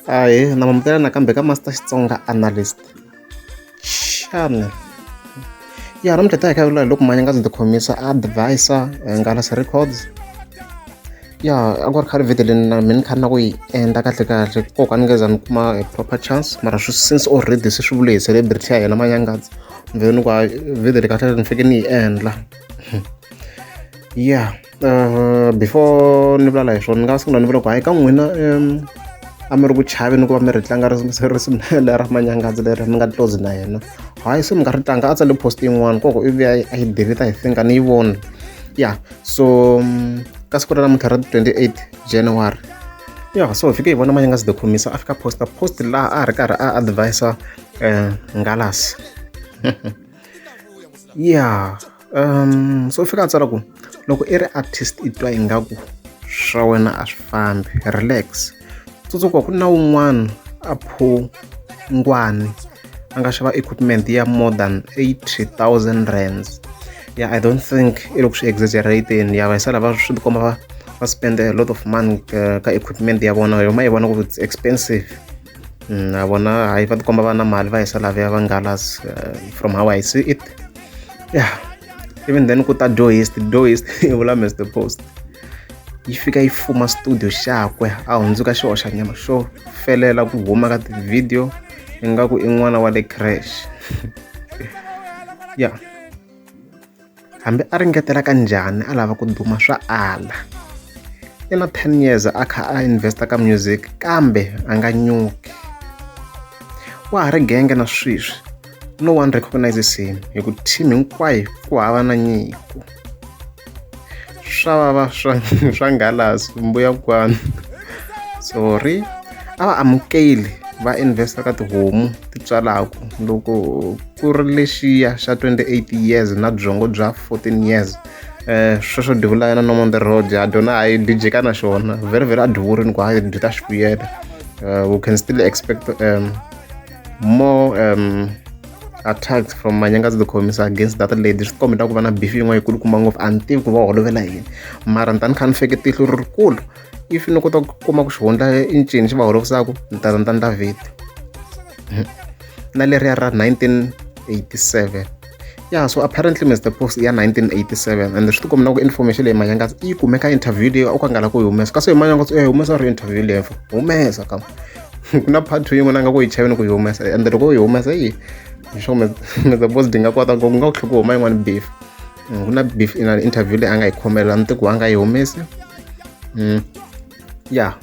ahe na mamukela nakambe ka master xitsonga analyst xana ya namuntlha ta hi khavula hi loko manya nga ndzi ti khomisa advisor eh, ngalasi records ya a ku ri khale video leyi na mina khani na ku yi endla kahle kahle koko a ni ngeza ni kuma hi proper chance mara swi since already se swi vule hi celebrity ya yena manyangadzi mveni ku video leyi kahle ni fike ni yi endla ya yeah. before ni vulavula hi swona ni nga sungula ni vula ku hayi ka n'wina a mi ri ku chaveni ku va mi ri tlanga risumela ra manyangazi leri mi nga close na yena hayi se mi nga ri tlanga a tsale post yin'wana koko i vuya a yi deleta hi finga ni yi vona ya so ka siku ra namuntlha ra 28 january ya so hi fike hi vona manyangazi de khomisa a fika posta post laha a ri karhi a advisa um ngalasi ya um so fika a tsala ku loko i ri artist i twa ingaku swa wena a swi fambi relax tsundzuka ku na wun'wana a phungwani a nga xava equipment ya more than 80000 rands ya i don't think i loko swi exaggerating ya vayisala va swi tikomba va va spend a lot of money ka, ka equipment ya vona yoma yi vona ku it's expensive na vona hayi va tikomba va na mali va hisa lavaya va ngalas eh, from how i see it yeah even then ku ta doist doist i vula mr post yi fika yi fuma studio xakwe a hundzuka xihoxa nyama xo felela ku huma ka tivhidiyo ingaku i n'wana wa le crash ya yeah. Hambi a ringetela ka njhani a lava ku duma swa ala. I na 10 years a kha a investa ka music kambe a nga nyuki. Wa ha ri genge na sweswi no one recognizes him hi ku team hinkwayo ku hava na nyiko. swa vava swa swa ngalasi mbuya kwani sorry a va amukeli va investa ka tihomu ti tswalaku loko ku ri lexiya xa 28 years na byongo bya 14 years eh sweswo divulayana no on the road a dona hayi dijeka na xona very very a divurini ku hayi byi ta xi vuyela eh, we can still expect um more um, attacks from manyanga to the commis against that lady swi kombeta ku va na beef yin'wana yikulu kuma ngopfu a ni tivi ku va holovela yini mara ni ta ni kha ni feke tihlo ri rikulu if ni kota ku kuma ku xihundla i ncini xi va holovisaka ni ta ni ta ni ta vheti na leriya ra 1987 ya so apparently mr post ya 1987 and swi tikomela ku information leyi manyangatsi yi kumeka interview leyi u ka nga la ku yi humesa kasi hi manyangatsi u ya yi humesa ri interview leyi fo humesa ka ku na part two yin'wana a nga ku yi chaveni ku yi humesa and loko u yi humesa yi sure mr post di nga kota ngopfu nga ku tlhe ku huma yin'wana beef mm, ku na beef ina interview leyi a nga yi khomela ni ti ku a nga yi humesi mm. ya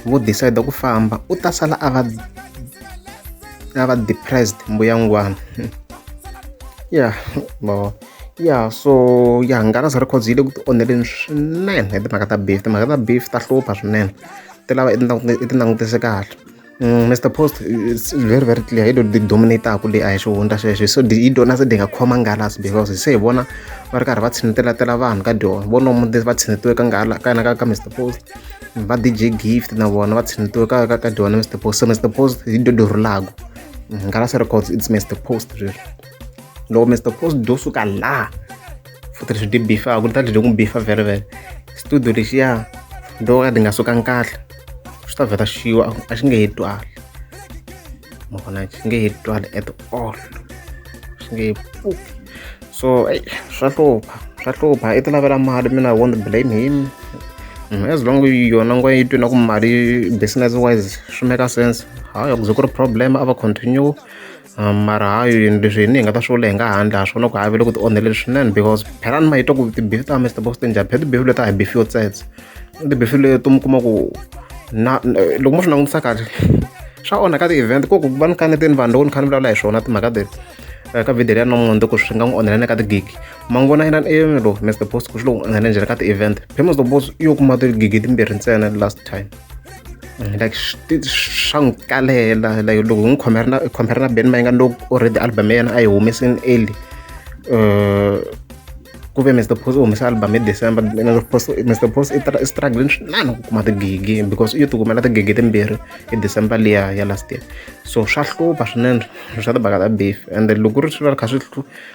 vo decide ku famba u ta sala a va a va depressed mbuyangwana ya bo ya so ya hangalasa records yi le ku ti onheleni swinene hi timhaka ta beef timhaka ta beef ta hlupha swinene ti lava i ti langutise kahle Mm, Mr. Post, it's very, very clear. Ido di dominate aku le a xo hundza sweswo. So di ido na se dinga khoma ngala si because se vona va ri karhi va tshinetela tela vanhu ka dyo. Vona mu va tshinetiwe ka ngala ka na ka Mr. Post. Va DJ Gift na vona va tshinetiwe ka ka dyo na Mr. Post. So Mr. Post ido do rulago. Mm, ngala se records it's Mr. Post sweswo. Loko Mr. Post do suka la futhi leswi di bifa ku ta dyi ku bifa very very. Studio lexiya do ka di nga sukanga kahle. swi ta vheta xiwa a xi nge he twali ma vona xi nge he twali at all xi nge he pfuki so eyi swa hlupha swa hlupha i ti lavela mali mina i won't blame him mm, as long yona ngwa yi twi na ku mali business wise swi make sense hayi ku ze ku ri problem a va continue mara ha yini leswi hini hi nga ta swi vula hi nga handle ha swi vona ku ha ve le ku ti onheleni swinene because phela ni ma yi twa ku tibifi ta mr box ti njhani phela tibifi leti a hi bifiyo tsetse tibifi leti mi kuma ku na loko mo swi langutisa kahle swa onha ka ti-event ku ku va ni kaneteni vanhu loko ni kha ni vulavula hi swona timhaka leti ka video leyi ya namuntlha ku swi nga n'wi onhela na ka ti-gig ma n'wi vona yena elo mr boss ku swi lo n'wi onhela njhani ka ti-event phela mr boss yo kuma ti-gig timbirhi ntsena last time like swa n'wi kalela like loko hi n'wi khomera na khomera na band mayinga loko already album ya yena a yi humesini early uh, ku ve mr post u humesa album hi december mr post i struggling swinene ku kuma tigigi because u yi tikumela tigigi timbirhi hi december liya ya last year so swa hlupha swinene swa tibaka ta beef and loko ri swi va ri kha swi